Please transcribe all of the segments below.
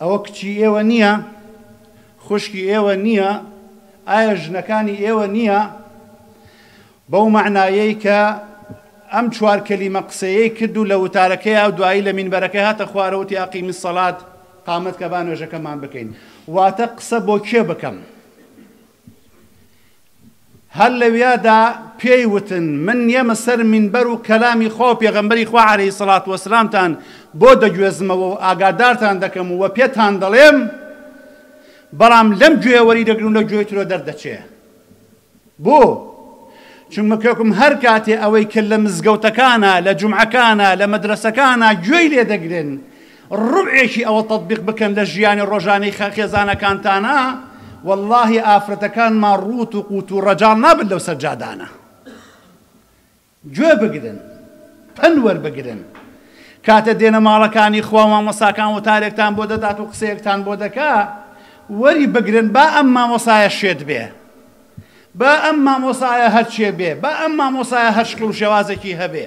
ئەوە کچی ئێوە نییە؟ خوشکی ئێوە نییە؟ ئایا ژنەکانی ئێوە نییە؟ بەو مەعنایەی کە ئەم چوار کەلیمە قسەیەی کرد و لە وتارەکەی ئەو دوایی لە مینبەرەکەی هاتە خوارەوە وتی ئەقیمی سەڵات قامەت کە با نوێژەکەمان بکەین واتە قسە بۆ کێ بکەم؟ هەر لەویادا پێی وتن، من نیەمە سەر مینبەر و کەلامی خوا و پێغەمبەری خوا عەلەیهی سەڵات وەسەلامتان بۆ دەگوێزمەوە و ئاگادارتان دەکەم و پێتان دەڵێم، بەڵام لەم گوێیە وەریدەگرن و لە گوێی ترەوە دەردەچێ. بۆ؟ چونکە کەکم هەر کاتێ ئەوەی کە لە مزگەوتەکانا، لە جومعەکانا، لە مەدرەسەکانا گوێی لێدەگرن، ڕوبعێکی ئەوە تەتبیق بکەن لە ژیانی ڕۆژانەی خە خێزانەکانتانا وەڵاهی ئافرەتەکانمان ڕووت و قووت و ڕەجاڵ نابن لەو سەجادانە گوێ بگرن پەند وەربگرن کاتێ دێنە ماڵەکانی خوا مامۆساکان وتارێکتان بۆ دەدات و قسەیەکتان بۆ دەکا وەری بگرن با ئەم مامۆسایە شێت بێ با ئەم مامۆسایە هەرچێ بێ با ئەم مامۆسایە هەر شکڵ و شێوازێکی هەبێ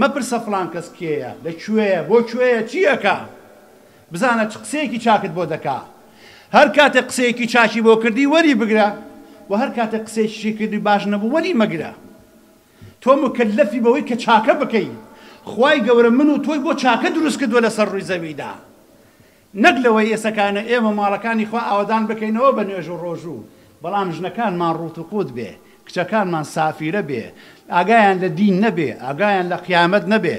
مەپرسە فڵان کەس کێیە، لە کوێیە، بۆ کوێیە، چی ئەکا. بزانە چ قسەیەکی چاکت بۆ دەکا. هەر کاتێک قسەیەکی چاکی بۆ کردی وەری بگرە و هەر کاتێک قسەیەکیشی کردی و باش نەبوو وەری مەگرە. تۆ موکەلەفی بەوەی کە چاکە بکەی. خوای گەورە من و تۆی بۆ چاکە دروست کردووە لەسەر ڕووی زەویدا. نەک لەوەی ئێسەکانە ئێمە ماڵەکانی خوا ئاوەدان بکەینەوە بە نوێژ و ڕۆژوو، بەڵام ژنەکانمان ڕووت و قووت بێ، کچەکانمان سافیرە بێ، ئاگایان لە دین نەبێ، ئاگایان لە قیامەت نەبێ.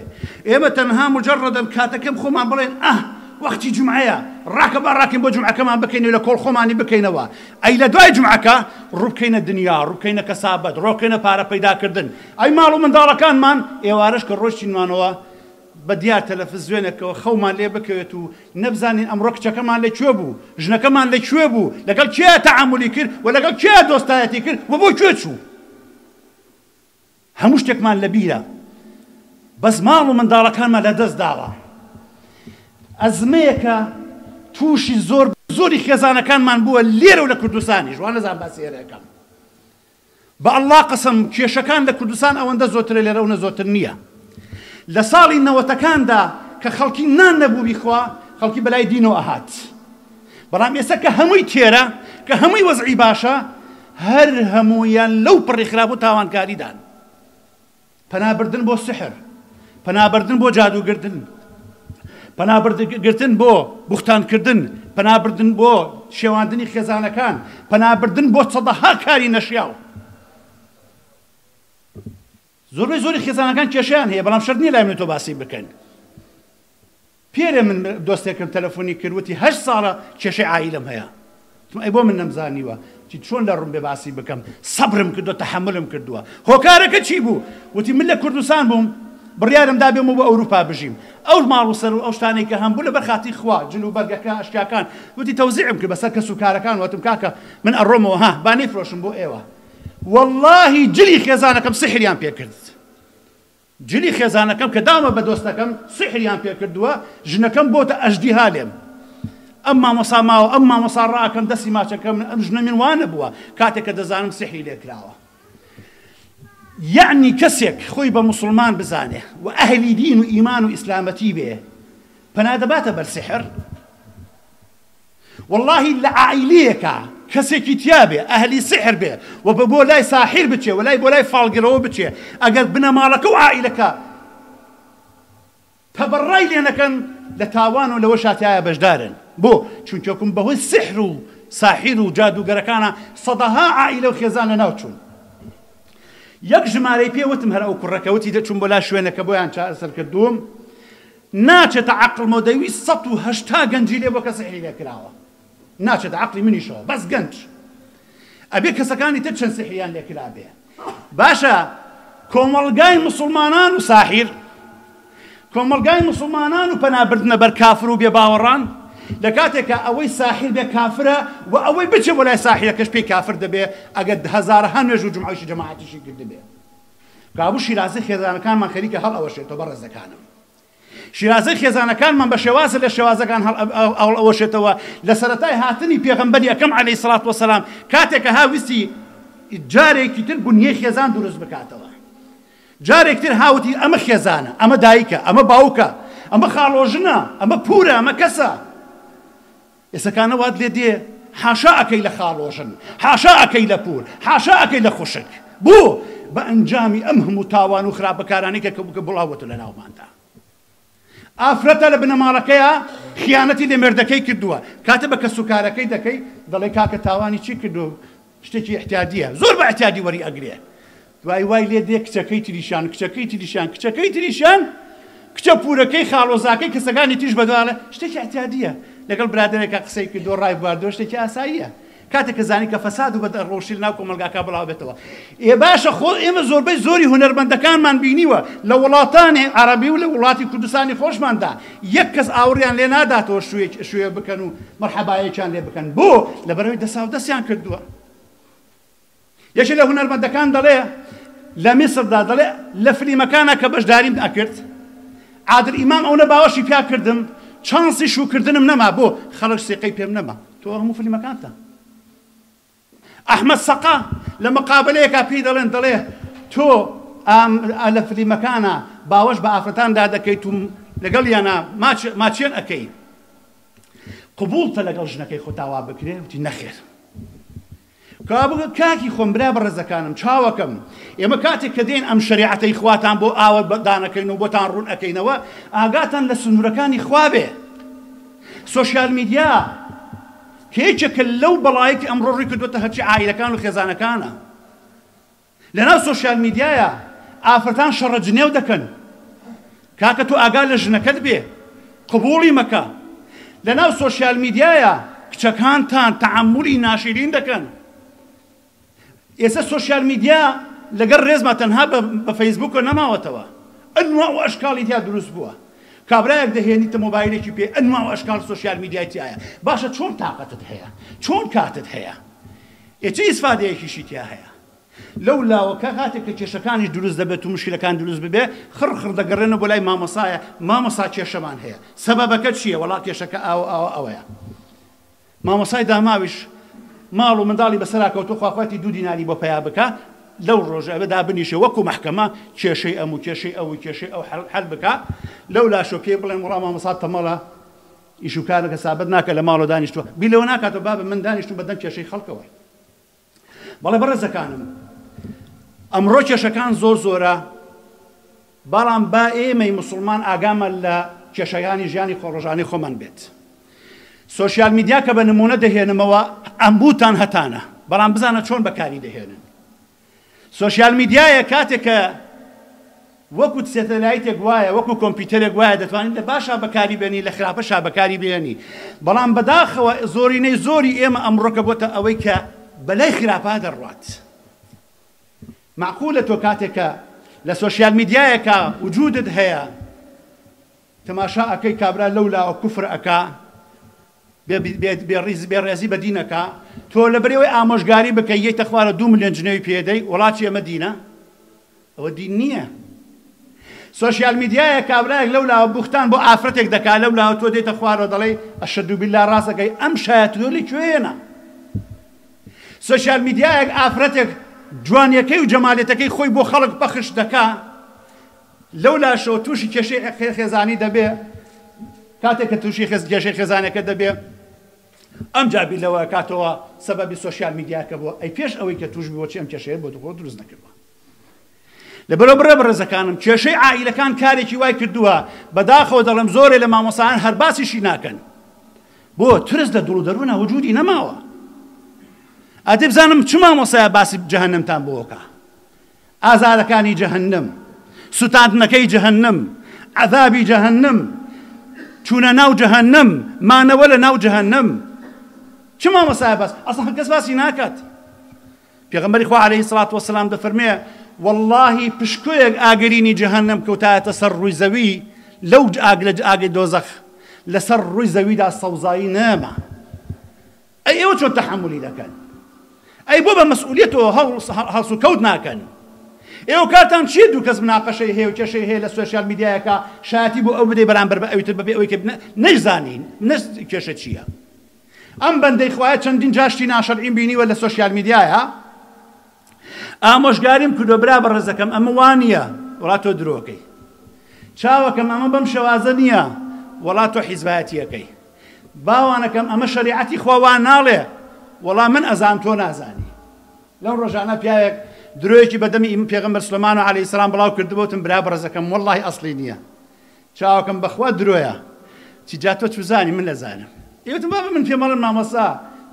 ئێمە تەنها موجەڕەدەن کاتەکەم خۆمان بڵێن ئاه وەختی جومعەیە، ڕاکە با ڕاکەین بۆ جومعەکەمان بکەین و لە کۆڵ خۆمانی بکەینەوە، ئەی لە دوای جومعەکە؟ ڕوو بکەینە دنیا، ڕوو بکەینە کەسابەت، ڕۆ بکەینە پارە پەیدا کردن. ئەی ماڵ و منداڵەکانمان؟ ئێوارەش کە ڕۆیشتینمانەوە، بە دیار تەلەفزوێنەکەوە خەومان لێ بکەوێت و نەبزانین ئەمڕۆ کچەکەمان لە کوێ بوو، ژنەکەمان لە کوێ بوو، لەگەڵ کێ تەعامولی کرد و لەگەڵ کێ دۆستایەتی کرد و بۆ کوێ چوو. هەموو شتێکمان لە بیرە بەس ماڵ و منداڵەکانمان لە دەست داوە. ئەزمەیەکە تووشی زۆر زۆری خێزانەکانمان بووە لێرە و لە کوردستانیش، وا نەزان باسی ئێرە ئەکەم. بە اللە قەسەم کێشەکان لە کوردستان ئەوەندە زۆترە لێرە ئەونە زۆتر نیە لە ساڵی نەوەتەکاندا کە خەڵکی نان نەبوو بیخوا خەڵکی بەلای دینەوە ئەهات بەڵام ئێستا کە هەمووی تێرە کە هەمووی وەزعی باشە هەر هەموویان لەو پڕی خراپ و تاوانکاریدان پەنا بردن بۆ سحر، پەنا بردن بۆ جادوو گردن، پەنا گرتن بۆ بوختان کردن، پەنا بردن بۆ شێواندنی خێزانەکان، پەنا بردن بۆ سەدەها کاری نەشیاو. زۆربەی زۆری خێزانەکان کێشەیان هەیە بەڵام شەرت نییە لای من و تۆ باسی بکەین. پیرە من دۆستێکم تەلەفۆنی کرد وتی هەشت ساڵە کێشەی عایلەم هەیە وتم ئەی بۆ من نەمزانیوە وتی چۆن لە ڕومبێ باسی بکەم سەبرم کردوە تەحەمولم کردوە هۆکارەکە چی بوو وتی من لە کوردستان بووم بڕیارم دا بێمەوە بۆ ئەوروپا بژیم ئەو ماڵ و سەر و ئەو شتانەی کە هەمبوو لەبەر خاتری خوا جل و بەرگەکە ئەشکاکان وتی تەوزیعم کرد بەسەر کەس و کارەکان وتم کاکە من ئەڕۆمەوە ها با نەیفرۆشم بۆ ئێوە واللهی جلی خێزانەکەم سحریان پێ کرد جلی خێزانەکەم کە دامە بە دۆستەکەم سیحریان پێ کردووە ژنەکەم بۆتە ئەژدیها لێم ئەم مامۆسا ماوە ئەم مامۆسا ڕاکەم دەستی ماچەکە من ئەم ژنە من وانەبووە کاتێک کە دەزانم سیحری لێ کراوە یعنی کەسێک خۆی بە مسلمان بزانێ و ئەهلی دین و ئیمان و ئیسلامەتی بێ پەنا دەباتە بەر سحر وەڵاهی لە عائیلیەکا کەسێکی تیا بێ ئەهلی سحر بێ و بە بۆ لای ساحیر بچێ و لای بۆ لای فاڵگرەوە بچێ ئەگەر بنەماڵەکە و عائیلەکە تەبەڕای لێ نەکەن لە تاوان و لەوەشا تیایا بەشدارن بۆ چونکە کم بە هۆی سحر و ساحیر و جادووگەرەکانە سەدەها عائیلە و خێزان لە ناو چوون یەک ژمارەی پێ وتم هەر ئەو کوڕەکە وتی دەچووم بۆ لا شوێنەکە بۆیان چارەسەر کردووم ناچێتە عەقڵمەوە دەیویست سەد و هەشتا گەنجی لێ بۆ کە سیحری لێ کراوە ناچێتە عەقڵی منیشەوە بەس گەنج ئەبێ کەسەکانی تر چەند سیحریان لێ کرابێ باشە کۆمەڵگای مسلمانان و ساحیر کۆمەڵگای مسلمانان و پەنابردنە بەر کافر و بێباوەڕان لە کاتێکە ئەوەی ساحیر بێ کافرە و ئەوەی بچێ بۆ لای ساحیرەکەش پێی کافر دەبێ ئەگەر هەزارەها نوێژ و جمعەشی جەماعەتیشی کردبێ کابو شیرازەی خێزانەکانمان خەریکە هەڵ ئەوەشێتەوە بەڕێزەکانم شیرازەی خێزانەکانمان بە شێوازە لە شێوازەکان هەڵ ئەوەشێتەوە لە سەرەتای هاتنی پێغەمبەری ئەکەم عەلەیهی سڵات وەسەلام کاتێکە ها ویستی جارێکی تر بنیەی خێزان دروست بکاتەوە جارێک تر هاوتی ئەمە خێزانە ئەمە دایکە ئەمە باوکە ئەمە خاڵۆژنە ئەمە پورە ئەمە کەسە ئێسەکانە وات لێ دێ حاشا ئەکەی لە خاڵۆژن حاشا ئەکەی لە پور حاشا ئەکەی لە خوشک بۆ بە ئەنجامی ئەم هەموو تاوان و خراپە کارانەی کە کە بڵاو بۆتە لە ناوماندا ئافرەتە لە بنەماڵەکەیە خیانەتی لە مێردەکەی کردووە کاتێ بە کەسوکارەکەی دەکەی دەڵێ کاکە تاوانی چی کردووە شتێکی ئیعتیادییە، زۆر بە ئیعتیادی وەری ئەگرێ. دوایی وای لێ دێ کچەکەی تریشان، کچەکەی تریشان، کچەکەی تریشان، کچە پوورەکەی خاڵۆزاکەی کەسەکانی تریش بە دوالا، شتێکی ئیعتیادییە. لەگەڵ برادەرێکا قسەی کردووە، ڕایبواردووە شتێکی ئاساییە. کاتێ کە زانی کە فەساد و بەد ڕەوشتی لە ناو کۆمەڵگاکا بڵاو ئەبێتەوە. ئێ باشە خۆ ئێمە زۆربەی زۆری هونەرمەندەکانمان بینیوە لە وڵاتانی عەڕەبی و لە وڵاتی کوردستانی خۆشماندا، یەک کەس ئاوڕیان لێ ناداتەوە شووێکی شووێ بکەن و مەرحەبایەکیان لێ بکەن بۆ؟ لەبەرئەوەی دەساو دەستیان کردووە. یەکێ لە هونەرمەندەکان دەڵێ لە میسردا دەڵێ لە فلیمەکانا کە بەشداریم ئەکرد عادل ئیمام ئەونە باوەشی پیا کردم چانسی شووکردنم نەما بۆ؟ خەڵک سیقەی پێم نەما. تۆ هەموو فلیمەکانتا. ئەحمەد سەقا لە مقابەلەیەکا پێی دەڵێن دەڵێ تۆ ئام ئا لە فلیمەکانا باوەش بە ئافرەتاندا دەکەیت و لەگەڵیانا ماچ ماچێن ئەکەی قبوڵتە لەگەڵ ژنەکەی خۆت ئاوا بکرێ وتی نەخێر کابگ کاکی خۆم برا بەڕێزەکانم چاوەکەم ئێمە کاتێک کە دێن ئەم شەریعەتەی خواتان بۆ ئاوە دانەکەین و بۆتان ڕوون ئەکەینەوە ئاگاتان لە سنوورەکانی خوا بێ سۆشیال میدیا یەکێکە لەو بەڵایەی کە ئەمڕۆ ڕووی کردووەتە هەرچی عائیلەکان و خێزانەکانە لەناو سۆشیال میدیایە ئافرەتان شەڕە جنێو دەکەن کاکە تۆ ئاگا لە ژنەکەت بێ قبوڵی مەکە لەناو سۆشیال میدیایە کچەکانتان تەعەمولی ناشیرین دەکەن ئێستا سۆشیال میدیا لەگەڵ ڕێزما تەنها بە فەیسبووکەوە نەماوەتەوە، ئەنواع و ئەشکاڵی تیا دروست بووە. کابرایەک دەهێنیتە مۆبایلێکی پێ ئەنواع و ئەشکاڵ سۆشیال میدیای تیایە، باشە چۆن تاقەتت هەیە؟ چۆن کاتت هەیە؟ ئێ چ ئیسفادەیەکیشی تیا هەیە؟ لەو لاوە کە کاتێک کە کێشەکانیش دروست دەبێت و مشکلەکان دروست ببێ خڕ خڕ دەگەڕێنەوە بۆ لای مامۆستایە، مامۆستا کێشەمان هەیە، سەبەبەکە چییە؟ وەڵا کێشەکە ئاوە ئاوە ئەوەیە. مامۆستای داماویش ماڵ و منداڵی بەسەرا کەوتوە خواخوایەتی دوو دیناری بۆ پەیا بکا لەو ڕۆژە ئەبێ دابنیشێ وەکو مەحکەمە کێشەی ئەم و کێشەی ئەو و کێشەی ئەو حەل بکا لەولاشەوە پێی بڵێن وەڵا مامۆسا تەمەڵە ئیش و کارت هەسابەت ناکە لە ماڵەوە دانیشتوە بیر لەوە ناکاتەوە بابە من دانیشتوم بەدەم کێشەی خەڵکەوە. بەڵێ بەڕێزەکانم ئەمڕۆ کێشەکان زۆر زۆرە بەڵام با ئێمەی مسلمان ئاگامان لە کێشەکانی ژیانی خۆڕۆژانەی خۆمان بێت سوسیال میدیا کە بە نمونە دەهێنمەوە ئەمبووتان هەتانە بەڵام بزانە چۆن بەکاری دەهێنن سوسیال میدیایە کاتێک کە وەکو سەتەلایتێک وایە وەکو کۆمپیوتەرێک وایە دەتوانی لە باشا بەکاری بێنی لە خراپەشا بەکاری بێنی بەڵام بەداخەوە زۆرینەی زۆری ئێمە ئەمڕۆکە بۆتە ئەوەی کە بەلای خراپا دەڕوات مەعقولە تۆ کاتێک کە لە سۆشیال میدیایەکا وجودت هەیە تەماشا ئەکەی کابرا لەو لاوە کوفر ئەکا بێ ڕێزی بە دین ئەکا تۆ لە بەرێوەی ئامۆژگاری بکەی یەیتە خوارە دوو ملیۆن جنێوی پێ دەی وڵاتی ئەمە دینە ئەوە دین نییە سۆشیال میدیایە کابرایەک لەو لاوە بوختان بۆ ئافرەتێک دەکا لەو لاوە تۆ دێتە خوارەوە دەڵێی ئەشەدو باللە ڕاست ئەکەی ئەم شایەتەوە لە کوێیەنە سۆشیال میدیایەک ئافرەتێک جوانیەکەی و جەمالێتەکەی خۆی بۆ خەڵک پەخش دەکا لەو لاشەوە تووشی کێشەی خێزانی دەبێ، کاتێک کە تووشی کێشەی خێزانەکە دەبێ ئەمجا بیر لەوە کاتەوە سەبەبی سۆشیال میدیاکە بووە، ئەی پێش ئەوەی کە تووش بووە چی ئەم کێشەیە بۆ دخۆ دروست نەکردوە؟ لەبەرەوە بڕە بەڕێزەکانم کێشەی عائیلەکان کارێکی وای کردووە بەداخەوە دەڵێم زۆرێ لە مامۆسایان هەر باسیشی ناکەن بۆ ترس لە دڵ و دەروونە وجودی نەماوە ئەدی بزانم چ مامۆسایە باسی جەهەنەمتان بۆکە ئازارەکانی جەهەنم، سوتاندنەکەی جەهەنم، عەزابی جەهەنم، چوونە ناو جەهەنم، مانەوە لە ناو جەهەنم. چ مامۆستایە باس؟ ئەسڵەن کەس باسی ناکات. پێغەمبەری خوا عەلەیهی سڵات وەسەلام دەفەرمێ وەڵڵاهی پشکۆیەک ئاگرینی جەهەنم کەوتایەتە سەر ڕووی زەوی لەو ئاگ لە ئاگی دۆزەخ لەسەر ڕووی زەویدا سەوزایی نەما. ئەی ئێوە چۆن تەحەمولی دەکەن ئەی بۆ بە مەسئولیتەوە هەڵس و کەوت ناکەن ئێوە کارتان چیە دوو کەس مناقەشەی هەیە و کێشەی هەیە لە سوسیال میدیایەکە شایەتی بۆ ئەو بدەی بەرامبەر بە ئەویتر بەبێ ئەوەی کە نەیزانین نەس کێشە چییە ئەم بەندەی خوایە چەندین جاشتی ناشەرعیم بینیوە لە سوسیال میدیایە ئامۆژگاریم کردوە برا بەڕێزەکەم ئەمە وا نییە وەڵا تۆ درۆکەی چاوەکەم ئەمە بەم شێوازە نییە وەڵا تۆ حیزبایەتیەکەی باوانەکەم ئەمە شەریعەتی خوا وا ناڵێ وەڵا من ئەزان تۆ نازانی لەو ڕۆژانە پیاوێک درۆیەکی بەدەمی ئیم پێغەمبەر سلمان و علی سلام بڵاو کردبوتم برا بەڕزەکەم واللهی ئەسلی نییە چاوەکەم بەخوا درۆیە چی جا تۆ چوزانی من ئەزانم ئێوتم بابە من پێم ئەڵێن مامۆستا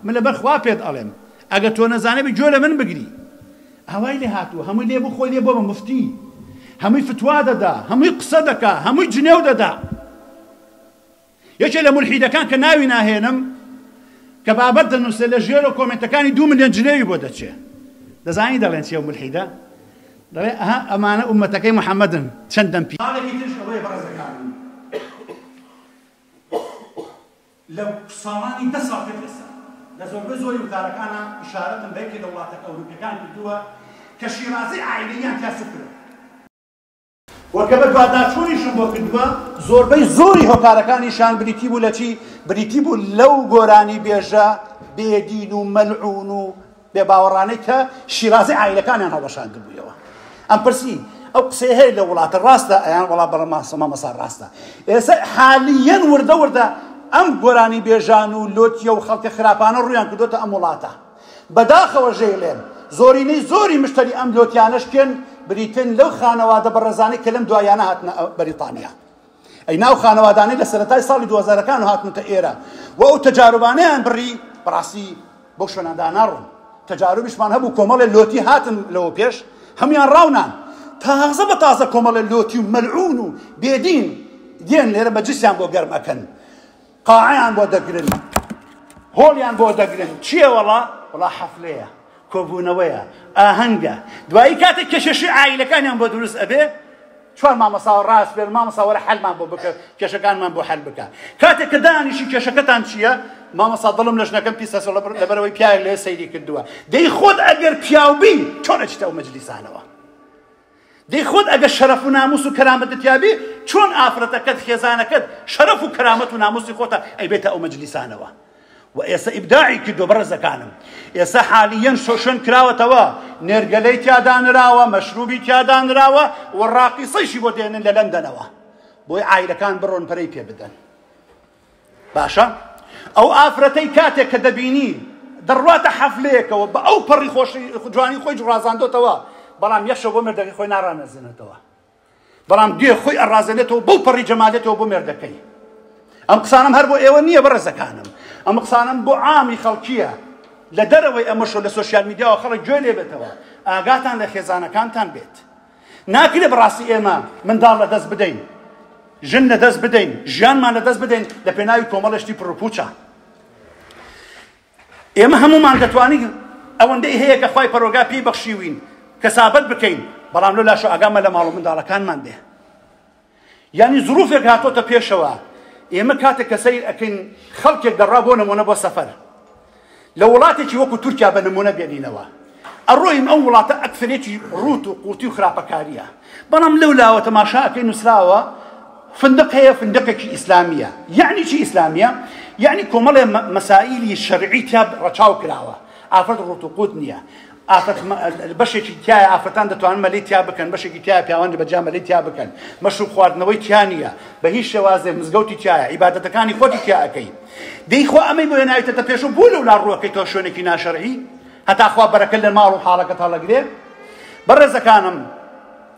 من لەبەر خوا پێت ئەڵێم ئەگەر تۆ نەزانەبی گوێ لە من بگری ئاوای لێ هاتووە هەمووی لێ بوو خۆی لێ بووە بە موفتی هەمووی فتوا دەدا هەمووی قسە دەکا هەمووی جنێو دەدا یەکێ لە مولحیدەکان کە ناوی ناهێنم کە بابەت دەنووسێ لە ژێرۆ کۆمێنتەکانی دوو ملیۆن جنێوی بۆ دەچێ دەزانی دەڵێن چیە مولحیدە دەڵێ ئەها ئەمانە ئوممەتەکەی محمدن چەند دەم پی. خاڵێکی ترش ئەوەیە بەڕێزەکانم لە ساڵانی دە ساڵ پێش ئێستا لە زۆربەی زۆری وتارەکانا ئیشارەتم بە یەکێ لە وڵاتە ئەوروپیەکان کردووە کە شیرازەی عائیلەییان تیا سوک کرد و کە بەدواداچوونیشم بۆ کردووە زۆربەی زۆری هۆکارەکانیشان بریتی بوو لە چی بریتی بوو لەو گۆرانی بێژە بێدین و مەلعون و بێ باوەڕانەی کە شیرازەی عائیلەکانیان هەڵوەشاندبوویەوە ئەم پرسی ئەو قسەی هەیە لە وڵاتە ڕاستە ئەیان وڵا بەڵە ماسەما مەسا ڕاستە ئێستا حالیەن وردە وردە ئەم گۆرانی بێژان و لۆتیە و خەڵکە خراپانە ڕویان کردوتە ئەم وڵاتە بەداخەوە ژەیڵێن زۆرینەی زۆری مشتری ئەم لۆتیانەشکێن بریتن لەو خانەوادە بەڕێزانەی کە لەم دوایانە هاتنە بەریتانیا ئەی ناو خانەوادانەی لە سەرەتای ساڵی دوو هەزار ەکان هاتونەتە ئێرە و ئەو تەجاروبانەیان بڕی بەڕاستی بەو شوێنە داناڕۆن تەجاروبیشمان هەبوو کۆمەڵێ لۆتی هاتن لەوە پێش هەموان ڕاونان تازە بە تازە کۆمەڵێ لۆتی و مەلعون و بێدین دێن لێرە مەجلیسیان بۆ گەرم ئەکەن قاعەیان بۆ دەگرن هۆڵیان بۆ دەگرن چییە وەڵا وڵا حەفلەیە کۆبوونەوەیە ئاهەنگە دوایی کاتێک کێشەشی ئایلەکانیان بۆ دروست ئەبێ چوار مامەساوە ڕاست پێ مامەساوەرە حەلمان بۆ بکە کێشەکانمان بۆ حەل بکە کاتێک کە دانیشی کێشەکەتان چییە مامەسا دڵم لەش نەکەم پیسە لەبەرەوەی پیاوێک لێ سەیری کردووە دەی خۆت ئەگەر پیاوبی چۆنەچیتەوە مەجلیسانەوە دەی خۆت ئەگەر شەرەف و ناموس و کەرامەتت تیابێ چۆن ئافرەتەکەت خێزانەکەت شەرەف و کەرامەت و ناموسی خۆتە ئەیبێتە ئەو مەجلیسانەوە و ئێستا ئیبداعی کردو بەڕێزەکانم ئێستا حالیەن شۆشن کراوەتەوە نێرگەلەی تیادانراوە مەشروبی تیادانراوە و ڕاقیسەیشی بۆ دێنن لە لەندەنەوە بۆی عایلەکان بڕۆن پەرەی پێ بدەن باشە ئەو ئافرەتەی کاتێک کە دەبینی دەڕواتە حەفلەیەکەوە بە ئەو پەڕی خۆشی جوانی خۆی جڕازاندۆتەوە بەڵام یەخشە بۆ مردەکەی خۆی ناڕانەزێنێتەوە بەڵام گوێ خۆی ئەڕازێنێتەوە بەو پەڕی جەمالێتەوە بۆ مێردەکەی ئەم قسانم هەر بۆ ئێوە نییە بەڕێزەکانم ئەم قسانم بۆ عامی خەڵکیە لە دەرەوەی ئەمەشۆ لە سوسیال میدیاوە خەڵک گوێ لێبێتەوە ئاگاتان لە خێزانەکانتان بێت ناکرێ بەڕاستی ئێمە منداڵ لەدەست بدەین، ژن لەدەست بدەین، ژیانمان لەدەست بدەین لە پێناوی کۆمەڵێ شتی پڕوپوچە. ئێمە هەموومان دەتوانین ئەوەندەی هەیە کە خوای پەرۆگا پێی بەخشیوین کەسابەت بکەین، بەڵام لۆ لاشۆ ئاگامان لە ماڵ و منداڵەکانمان بێ. یانی زروفێک هاتۆتە پێشەوە ئێمە کاتێک کە سەیر ئەکەین خەڵکێک دەڕا بۆ نمونە بۆ سەفەر لە وڵاتێکی وەکو تورکیا بە نمونە بێنینەوە ئەڕۆین ئەو وڵاتە ئەکسەرێتی ڕوت و قوتی و خراپەکاریە بەڵام لەو لاوە تەماشا ئەکەی نووسراوە فندق هەیە فندقێکی ئیسلامیە یعنی چی ئیسلامیە یعنی کۆمەڵێ مەسائیلی شەرعی تیا ڕەچاو کراوە ئافرەت ڕوت و قوت نییە ئافرەت بەشێکی تایە ئافرەتان دەتوانن مەلی تیا بکەن بەشێکی تیا پیاوانی بەجا مەلی تیا بکەن مەشروب خواردنەوەی تیا نییە بە هیچ شێوازێ مزگەوتی تایە عیبادەتەکانی خۆتی تیاەکەی دەیخوا ئەمەی بۆ ناویتەتە پێش و بوو لەو لا ڕوەکەی تۆ شوێنێکی ناشەرعی هەتاخوا بەرەکە لە ماڵ و حاڵەکە تاڵەگرێ بەڕێزەکانم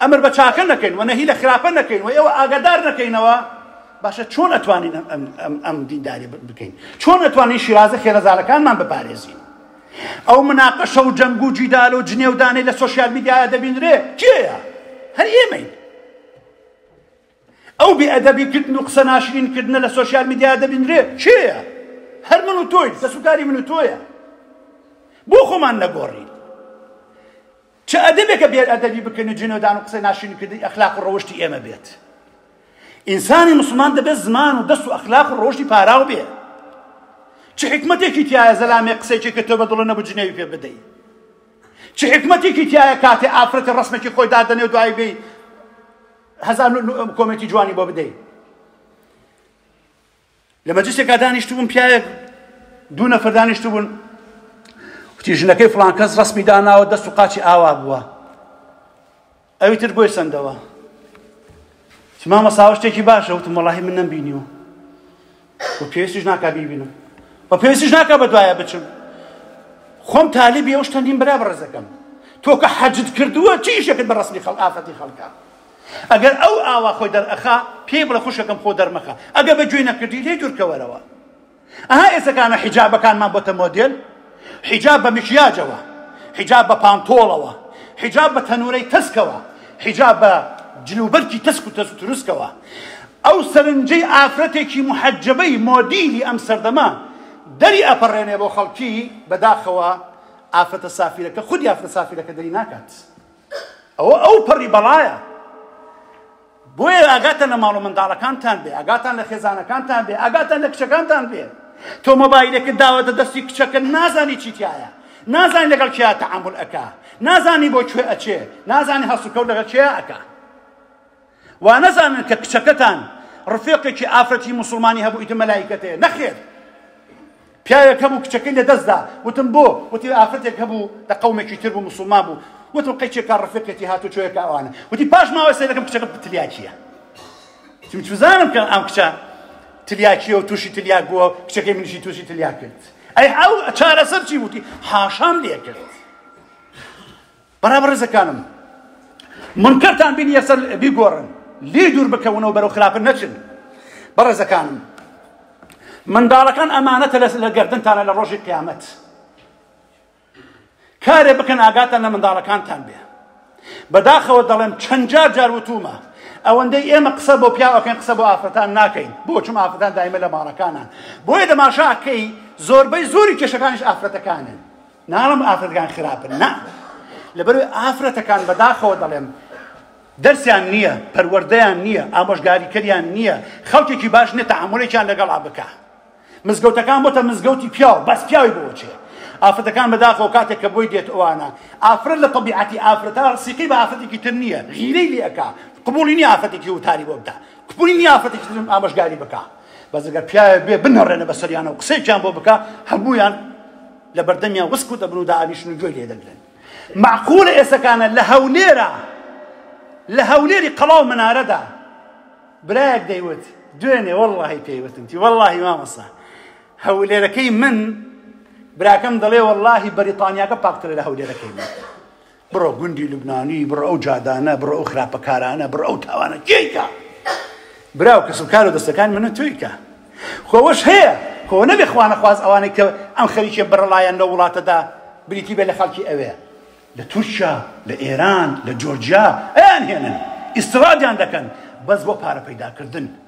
ئەمر بە چاکە نەکەین و نەهی لە خراپە نەکەین و ئێوە ئاگادار نەکەینەوە، باشە چۆن ئەتوانین ئەم دینداری بکەین؟ چۆن ئەتوانین شیرازە خێرەزارەکانمان بپارێزین؟ ئەو مناقەشە و جەنگ و جیدال و جنێودانەی لە سۆشیال میدیایە دەبینرێ کێیە؟ هەر ئێمەین. ئەو بێئەدەبیکردن و قسە ناشرینکردنە لە سۆشیال میدیا دەبینرێ کێیە هەر من و تۆی دەسوکاری من و تۆیە بۆ خۆمان نەگۆڕین چ ئەدەبێکە بێ ئەدەبی بکەن و جنێودان و قسەی ناشرینکردنی ئەخلاق و ڕەوشتی ئێمە بێت؟ ئینسانی مسڵمان دەبێت زمان و دەست و ئەخلاق و ڕەوشتی پاراو بێ چ حکمەتێکی تایە زەلامێ قسەیەکی کە تۆ بە دڵە نەبوو جنێوی پێ بدەی چ حکمەتێکی تایە کاتێ ئافرەتی ڕسمێکی خۆی دادەنێ و دوایی بێی هەزار کۆمێکی جوانی بۆ بدەیت لە مەجلسێکا دانیشتبووم پیاوێک دوو نەفەر دانیشتبوون وتی ژنەکەی فلان کەس ڕسمی داناوە دەست و قاچی ئاوا بووە ئەوی تر بۆی سندەوە مامە ساوە شتێکی باشە وتم وڵی من نەم بینیوە و پێویستیش ناکا بیبینم و پێویستیش ناکە بە دوایە بچم خۆم تالیبی ئەو شتەندین برا بەڕێزەکەم تۆ کە حەجت کردووە چیشەکەت بە ڕسمی خەڵ ئافەتی خەڵکە ئەگەر ئەو ئاوا خۆی دەرئەخا پێی بڵێ خوشکەکەم خۆ دەرمەخە ئەگەر بە گوێی نەکردی لێ دوورکەوەرەوە ئەها ئێسەکانە حیجابەکانمان بۆتە مۆدێل حیجاب بە مکیاجەوە حیجاب بە پانتۆڵەوە حیجاب بە تەنورەی تەسکەوە حیجاب بە جلوبەرکی تەسک و تەس تروسکەوە ئەو سەرنجەی ئافرەتێکی محەجەبەی مۆدیلی ئەم سەردەمە دەری ئەپەڕێنێ بۆ خەڵکی بەداخەوە ئافرەتە سافیرەکە خودی ئافرە سافیرەکە دەری ناکات ئەوە ئەو پەڕی بەڵایە بۆیە ئاگاتان لە ماڵ و منداڵەکانتان بێ ئاگاتان لە خێزانەکانتان بێ ئاگاتان لە کچەکانتان بێ تۆ مۆبایلێکت داوەتە دەستی کچەکە نازانی چی تایە نازانی لەگەڵ کیا تەعامل ئەکا نازانی بۆ کوێ ئەچێ نازانی هەڵسوکەوت لەگەڵ کیا ئەکا وانەزانن کە کچەکەتان ڕفێقێکی ئافرەتی موسڵمانی هەبوو ئیتر مەلایکەتێ نەخێر پیاوێک هەبوو کچەکەی لەدەستدا وتم بۆ وتی ئافرەتێک هەبوو لە قومێکی تر بوو مسلمان بوو وتم قەیچێکا ڕفێقێتی هاتو چۆیەکە ئەوانە وتی پاش ماوەی سەیرەکەم کچەکە تلیاکیە چم چزانم کە ئەم کچە تلیاکیە و تووشی تلیاک بووە کچەکەی منشی تووشی تلیاک کرد ئەی ئەو چارەسەر چی وتی حاشام لێ کرد برا بەڕێزەکانم منکەرتان بینی یەکسەر بیگۆڕن لێ دوور بکەونەوە بەرەو خراپە نەچن بەڕێزەکانم منداڵەکان ئەمانەتە لە گردنتانە لە ڕۆژی قیامەت کارێ بکەن ئاگاتان لە منداڵەکانتان بێ بەداخەوە دەڵێم چەند جار جار وتومە ئەوەندەی ئێمە قسە بۆ پیاوەکەن قسە بۆ ئافرەتان ناکەین بۆ چم ئافرەتان دایمە لە ماڵەکانان بۆیە دەماشاکەی زۆربەی زۆری کێشەکانیش ئافرەتەکانن ناڵم ئافرەتەکان خراپن نا لەبەر ئافرەتەکان بەداخەوە دەڵێم دەرسیان نییە پەروەردەیان نییە ئامۆژگاریکەریان نییە خەڵکێکی باش نێتە ئامۆلێکیان لەگەڵا بکە مزگەوتەکان بۆتە مزگەوتی پیاو بەس پیاوی بۆچێ ئافرەتەکان بەداخەوە کاتێک کە بۆی دێت ئەوانە ئافرەت لە طبیعەتی ئافرەتە سیقی بە ئافرەتێکی تر نییە غیرەی لێەکە قبولی نیە ئافرەتێکی وتاری بۆ بدە قبولی نیە ئافرەتێکی ترم ئامۆژگاری بکە بەزگە پیاوێ بێ بنەڕێنە بەسەریانە و قسێکیان بۆ بکە هەمویان لە بەردەمیان وسک و دەبن و دائەنیشن و گوێی لێ دەگرن مەعقولە ئێسەکانە لە هەولێرە لە هەولێری قەڵا و منارەدا برایەک دەیوت دوێنێ وەڵڵاهی پێیوتم تی وەڵڵاهی مامەسە هەولێرەکەی من براکەم دەڵێ وەڵڵاهی بەریتانیاکە پاکترە لە هەولێرەکەی من بڕۆ گوندی لوبنانی بڕۆ ئەو جادانە بڕۆ ئەو خراپە کارانە بڕۆ ئەو تاوانە کێیکا براو کەس و کار و دەستەکان منە تۆیکە خۆوەش هەیە خۆ نەبێ خوانە خواز ئەوانەی کە ئەم خەریکێ بڕڵایەن لە وڵاتەدا بریتی بێ لە خەڵکی ئەوێ لە تورکیا لە ئێران لە جۆرجیا ئەیان هێنن ئیسرادیان دەکەن بەس بۆ پارە پەیداکردن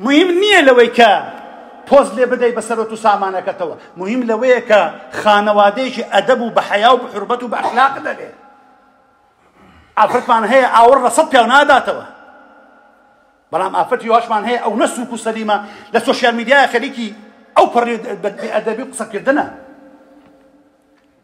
موهیم نیە لەوەی کە پۆز لێ بدەی بە سەرۆت و سامانەکەتەوە موهیم لەوەیە کە خانەوادەیەکی ئەدەب و بە حەیا و بحرمەت و بە ئەخلاق دەبێ ئافرەتمان هەیە ئاوڕ لە سەد پیاو ناداتەوە بەڵام ئافرەتی واشمان هەیە ئەو نە سوک و سەلیمە لە سۆشیال میدیای خەریکی ئەو پەڕی بەدبی ئەدەبی قسەکردنە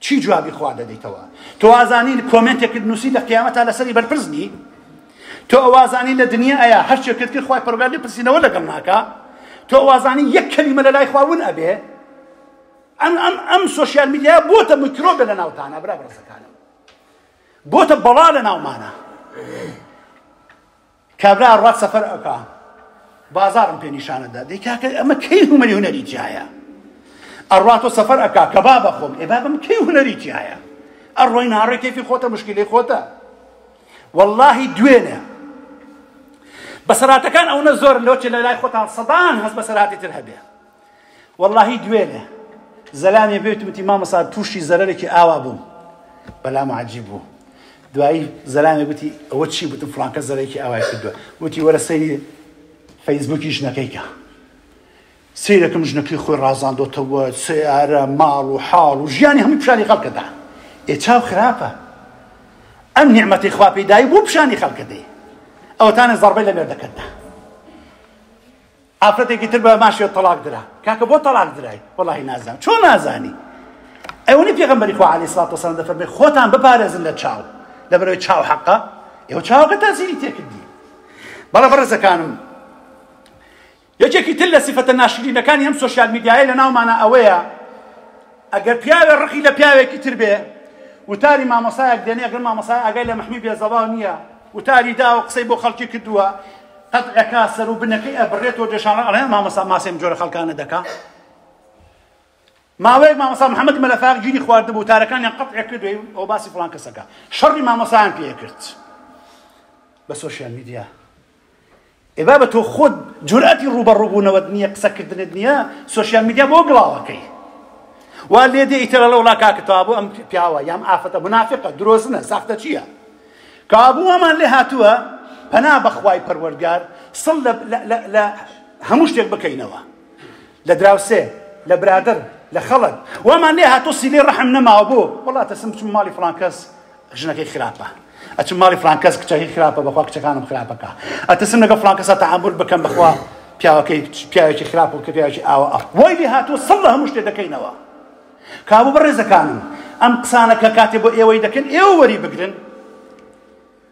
چی جوابی خوا دەدەیتەوە تۆ ئازانی کۆمێنتێکت نووسی لە قیامەت تا لەسەری بەرپرس بی تۆ ئەوازانی لە دنیا ئەیە هەر شتێکت کرد خوای پەرگار لێ پرسینەوە لەگەڵ ناکا تۆ ئەوازانی یەک کەلیمە لە لای خوا ون ئەبێ ئەم ئەم ئەم سوسیال میدیا بۆتە میکرۆبە لە ناوتانە برا بڕسەکانم بۆتە بەڵا لە ناومانە کابرا ئەڕوات سەفەر ئەکا بازارم پێ نیشانە دا دەی کاکە ئەمە کەی هومەری هونەری تایە ئەڕوات و سەفەر ئەکا کە با بەخۆم ئێ بابم کەی هونەری تایە ئەڕۆی ناڕێ کەفی خۆتە مشکلی خۆتە واللهی دوێنێ بەسەراتەکان ئەوە زۆر لۆچ لە لای خۆتان سەدان هەست بەسەراتی تر هەبێ وەڵاهی دوێنێ زەلامێ بێتم وتی مامەسا تووشی زەرەرێکی ئاوا بووم بەلام عجیب بوو دوایی زەلامێ گوتی ئەوە چی بتم فلانکە زەرێکی ئاوای کردووە وتی وەرە سەیری فەیسبوکی ژنەکەیکە سیرەکەم ژنەکەی خۆی ڕازاندۆتەوە سیارە ماڵ و حاڵ و ژیانی هەموو پیشانی خەڵکەدا ئێ چاو خراپە ئەم نیعممەتی خوا پێدای بۆ پیشانی خەڵکەدەی ئەوتانە زەڕبەی لە مێردەکەتدا ئافرەتێکی تر بە ماشێ تەڵاق درا کاکە بۆ تەڵاق درای وەڵی نازان چۆن نازانی ئەوەی پێغمبەری خوا علی سڵات وسلام دەفەرمێ خۆتان بپارێزن لە چاو لە بەرەوەی چاو حەقە ئێوە چاوەکە تازیری تێکردی بەڵە بەڕێزەکانم یەکێکی تر لە سیفەتە ناشرینەکانی ئەم سوسیال میدیایە لە ناومانە ئەوەیە ئەگەر پیاوێ ڕقی لە پیاوێکی تر بێ وتاری مامۆسایەک دێنێ ئەگەر مامۆسای ئاگای لە مەحمی بێزەڵا نییە وتاری داوە قسەی بۆ خەڵکی کردووە قەتعەکە سەر و بنەکەی ئەبرێتەوە دێشانڕ ئەڵێن مامۆسا ماسێم جۆرە خەڵکانە دەکا ماوەیەک مامۆسا محەممەد مەلەفاق گیری خواردبوو تارەکانیان قەتعێ کردوی ئەو باسی فڵان کەسەکە شەڕی مامۆسایان پێ کرد بە سۆشیال میدیا ئێ بابە تۆ خۆت جورئەتی ڕووبەڕووبوونەوەت نییە قسەکردنت نییە سۆشیال میدیا بۆ گڵاوەکەی وا لێ دێ ئیتر لە وڵا کاکە کابوو ئەم پیاوە یام ئافەتە منافقە درۆزنە ساختە چییە کابوو ئەمان لێ هاتووە پەنا بەخوای پەروەرگار سڵ لە هەموو شتێک بکەینەوە لە دراوسێ، لە برادەر، لە خەڵک وامان لێ هاتووە سیلەی ڕەحم نەماوە بۆ؟ وەڵا ئەترسم بچم ماڵی فڵان کەس ژنەکەی خراپە، ئەچم ماڵی فڵان کەس کچەکەی خراپە بەخوا کچەکانم خراپە کا، ئەترسم لەگەڵ فڵان کەسا تەعامول بکەم بەخوا پیاوەکەی پیاوێکی خراپ و کە پیاوێکی ئاوا ئەخ وای لێ هاتووە سڵ لە هەموو شتێ دەکەینەوە. کابوو بەڕێزەکانم ئەم قسانە کە کاتێ بۆ ئێوەی دەکەن ئێوە وەری بگرن،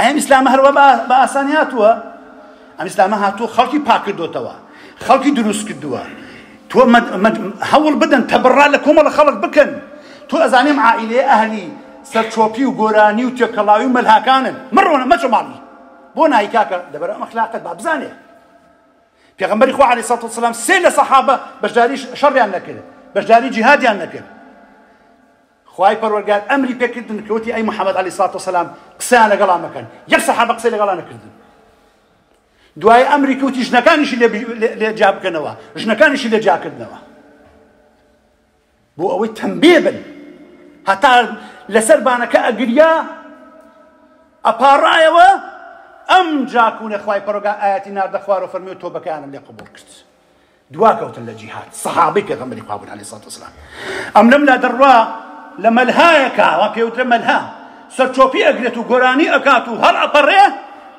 ئەم ئیسلامە هەروە بە ئاسانی هاتووە ئەم ئیسلامە هاتووە خەڵکی پاکردۆتەوە خەڵکی دروست کردووە تۆ هەوڵ بدەن تەبڕا لە کۆمەڵە خەڵک بکەن تۆ ئەزانیم عائلێ ئەهلی سەرچۆپی و گۆرانی و تێکەڵاوی و مەلهاکانن مڕۆنە مەچە ماڵی بۆ نایکاکە دەبەر ئەم ئەخلاقت با بزانێ پێغمبەری خوا علی سەڵ سلام سێ لە سەحابە بەشداری شەڕیان نەکرد بەشداری جیهادیان نەکرد خوای پەروەردگار ئەمری پێ کردن کە وتی، ئەی محمد علیە سڵات وسلام قسەیان لەگەڵا مەکەن، یەک سەحابە قسەی لەگەڵا نەکردن. دوای ئەمری کەوتی ژنەکانیشی لێ جیا بکەنەوە ژنەکانیشی لێ جیاکردنەوە بۆ ئەوەی تەمبێ بن هەتا لەسەر بانەکە ئەگریا ئەپاڕایەوە ئەم جاکوونە خی پەرۆگا ئاەتی ناردە خوارە فەرمی و تۆبەکانم لێ قبول کرد دواکەوتن لە جیهاد سەحابەی پێغەمبەری خوا بوون عەلەیهی سڵات وسلام ئەم لەم لا دەڕوا لە مەلهایەکە وا پێوترە مەلها سەرچۆپی ئەگرێت و گۆرانی ئەکات و هەڵ ئەپەڕێ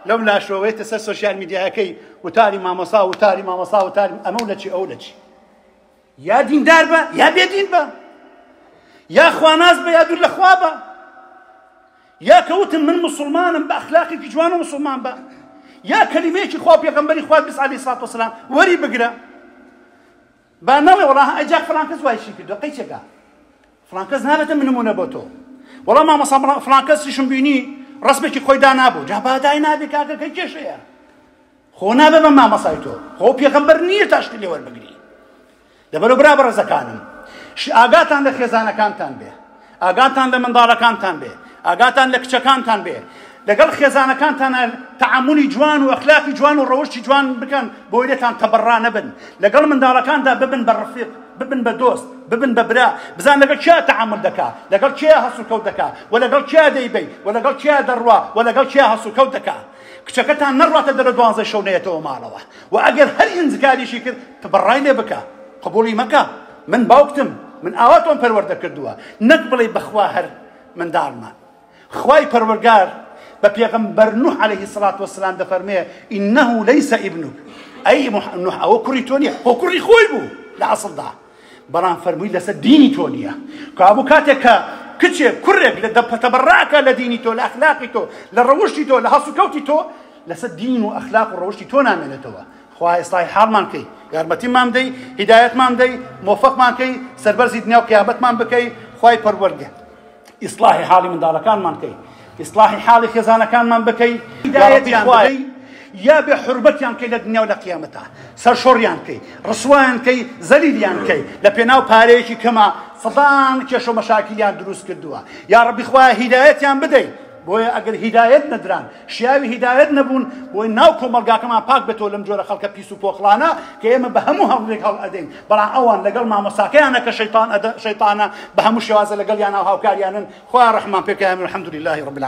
لەم لاشەوەیتە سەر سوسیال میدیایەکەی وتاری مامۆسا وتاری مامۆسا وتاری ئەمە و لەچی ئەو لەچی یا دیندار بە یا بێدین بە یا خواناز بە یا دوور لە خوا بە یا کە وتم من موسڵمانم بە ئەخلاقێکی جوان و موسڵمان بە یا کەلیمەیەکی خوا پێغەمبەری خوات بیست عەلەیهی سڵات وسلام وەری بگرە با نەڵێ وەڵا ئەجا فڵان کەس وای شی کردو قەیچێکە فڵان کەس نابێتە من نمونە بۆ تۆ وەڵا مامەسا فڵان کەسیشم بینی ڕسمێکی خۆی دانابوو جا بادای نابێ کاکە کە کێشەیە خۆ نابێ بە مامۆستای تۆ خۆ پێغەمبەر نییە تا شتی لێ وەربگری لەبەرو برا بەڕێزەکانم ئاگاتان لە خێزانەکانتان بێ ئاگاتان لە منداڵەکانتان بێ ئاگاتان لە کچەکانتان بێ لەگەڵ خێزانەکانتانە تعاملی جوان و ئەخلاقی جوان و ڕەوشی جوان بکەن بۆی لێتان تەبڕا نەبن لەگەڵ منداڵەکاندا ببن بە ڕفیق ببن بە دۆست ببن بە برا بزان لەگەڵ کیا تعامل دەکا لەگەڵ کیا هەسوکەوت دەکا و لەگەڵ کیا دەیبەی و لەگەڵ کیا دەڕوا و لەگەڵ کیا هەسوکەوت دەکا کچەکەتان نەڕواتە دەرە دوانزەی شەو نەیەتەوە ماڵەوە وە ئەگەر هەر ئینزگاریشی کرد تبڕای لێ بکە قبوڵی مەکە من باوکتم من ئاوا تۆم پەروەردە کردووە نەک بڵێی بەخوا هەر منداڵمان خوای پەروەرگار بە پێغەمبەر نوح علیه سڵات وسلام دەفەرمێ ئینه لەیس ئیبنوک ئەی نوح ئەوە کوڕی تۆ نیە خۆ کوڕی خۆی بوو لە ئەسڵدا بەڵام فەرمووی لەسەر دینی تۆ نییە کابوو کاتێک کە کچێک کوڕێک لە دەپەتەبەڕاکە لە دینی تۆ لە ئەخلاقی تۆ لە ڕەوشتی تۆ لە هەڵسوکەوتی تۆ لەسەر دین و ئەخلاق و ڕەوشتی تۆ نامێنێتەوە خوا ئێستای حاڵمان کەی یارمەتیمان بدەی هیدایەتمان بدەی مۆفەقمان کەی سەربەرزی دنیا و قیامەتمان بکەی خوای پەروەردگار ئیسلاحی حاڵی منداڵەکانمان بکەی ئیسلاحی حاڵی خێزانەکانمان بکەی هیدایەتیان بدەی یا بێ حربەتیان کەی لە دنیا و لە قیامەتە سەرشۆڕیان کەی ڕسوایان کەی زەلیلیان کەی لە پێناو پارەیەکی کەمە سەدان کێشە و مەشاکلیان دروست کردووە یا ڕەبی خوایە هیدایەتیان بدەی بۆیە ئەگەر هیدایەت نەدران شیاوی هیدایەت نەبوون بۆی ناو کۆمەلگاکەمان پاک بێتەوە لەم جۆرە خەڵکە پیس و پۆخڵانە کە ئێمە بە هەموو هەڵێک هەڵ ئەدەین بەڵام ئەوان لەگەڵ مامۆساکەیانە کە شەیتان شەیتانە بە هەموو شێوازە لەگەڵ یاناو هاوکاریانن خوا ڕحمان پێکیان الحمد لله رب العالمین